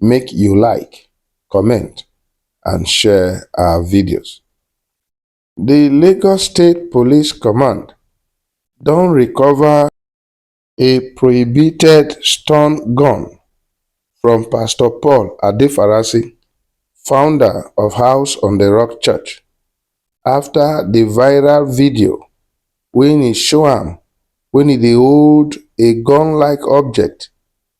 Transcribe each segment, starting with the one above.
make you like, comment and share our videos. The Lagos State Police Command don recover a prohibited stun gun from Pastor Paul Adefarasi, founder of House on the Rock Church, after the viral video when he show am when he dey hold a gun-like object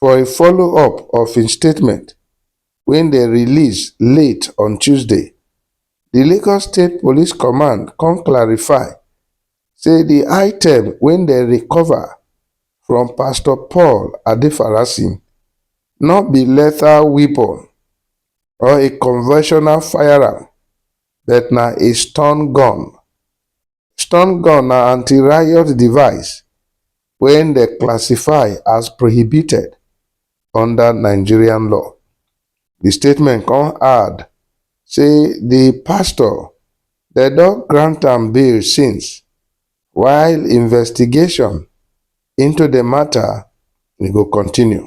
For a follow-up of im statement wey dem release late on Tuesday, di Lagos State Police Command come clarify say di item wey dem recover from Pastor Paul Adefarasin no be lethal weapon or a conventional firearm but na a stun gun. Stun gun na anti-riot device wey dem classify as prohibited under Nigerian law. Di statement come add say di pastor dem don grant am bail since while investigation into di matter go continue.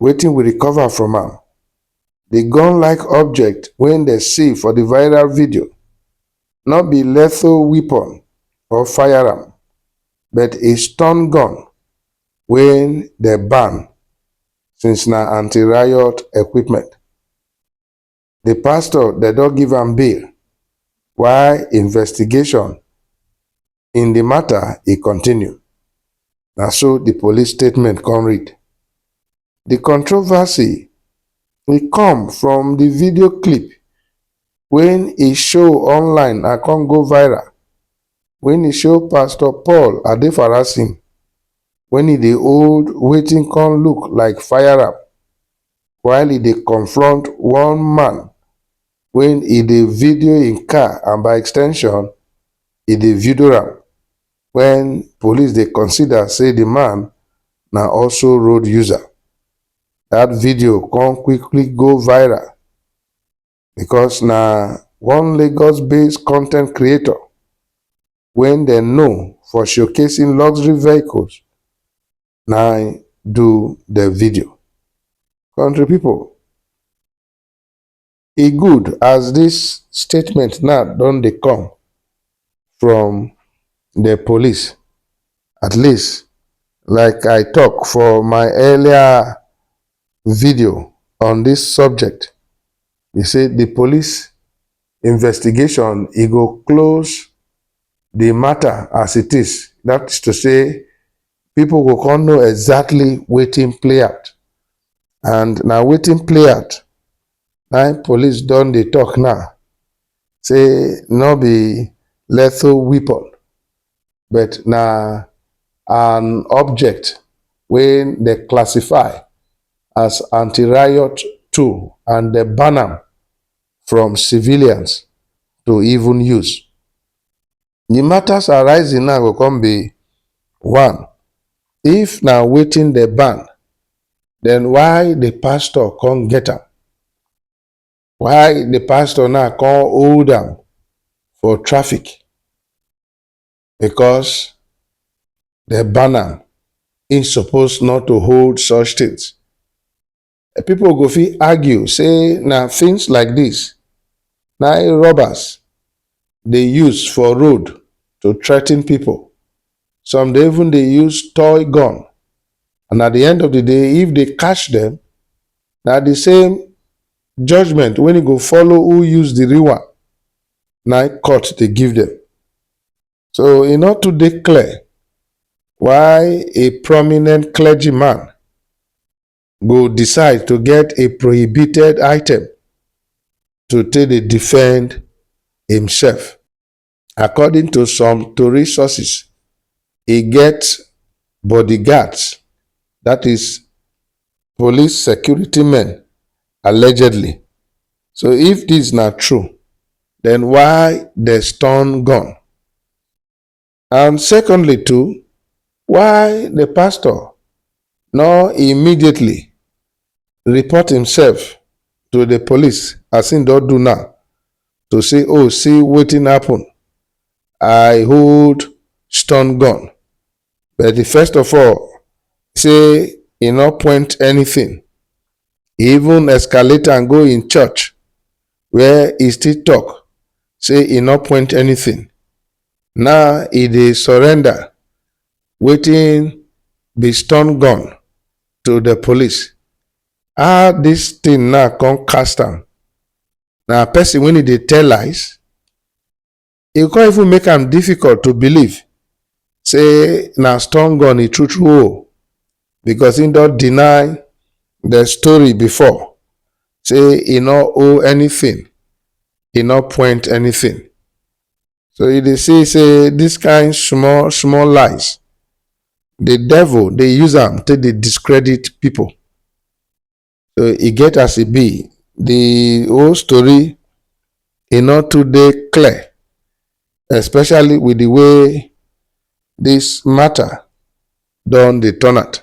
wetin we recover from am. Di gun-like object wey dem see for di viral video no be lethal weapon or firearm, but a stun gun wey dem ban since na anti-riot equipment. the pastor dem don give am bail while investigation in the matter e continue. Na so the police statement come read. The controversy e come from the video clip when e show online and come go viral when e show Pastor Paul Adefarasin when e dey hold wetin come look like firearm while e dey confront one man wen e dey video im car and by extension e dey vidoe am wen police dey consider say di man na also road user. Dat video come quickly go viral because na one Lagos based content creator wen dem know for showcasing luxury vehicles na im do the video country people e good as this statement now don dey come from the police at least like i talk for my earlier video on this subject e say the police investigation e go close the matter as it is that is to say people go come know exactly wetin play out and na wetin play out na police don dey talk now say no be lethal weapon but na an object wey dem classify as anti-riot tool and dem ban am from civilians to even use. Di matters arising now go come be one, if na wetin dem ban, den why di pastor come get am? Why di pastor now come hold am for traffic? Because dem ban am, im suppose not to hold such tins. Pipo go fit argue say na tins like dis na im robbers dey use for road to threaten pipo, some dey even dey use toy gun and at di end of di day if dey catch dem na di same judgement wey e go follow who use di real one na im court dey give dem. So e no too dey clear why a prominent clergy man go decide to get a prohibited item to take dey defend himself. According to some tori sources, e get bodyguards, that is police security men allegedly. So if this na true, then why dey stun gun? And secondly too, why the pastor nor immediately report himself to the police as he don do now to say oh see wetin happen i hold stun gun but the first of all say he no point anything he even escalate and go in church where he still talk say he no point anything Now e dey surrender wetin be stun gun to the police. How this thing now come cast am? Na person when e dey tell lies, e come even make am difficult to believe say na stun gun e true true o because he don deny the story before say e no owe anything, e no point anything. So you dey see say this kind small small lies, the devil dey use am take dey discredit people. So e get as e be, the whole story e no too dey clear especially with the way this matter don dey turn out.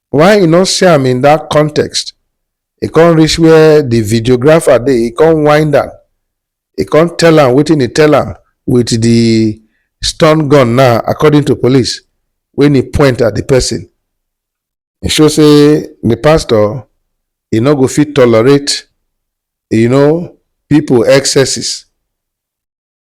why e no see am in that context e come reach where the videographer dey e come wind am e come tell am wetin e tell am with the stun gun now according to police when e point at the person e show say the pastor e no go fit tolerate you know people excesses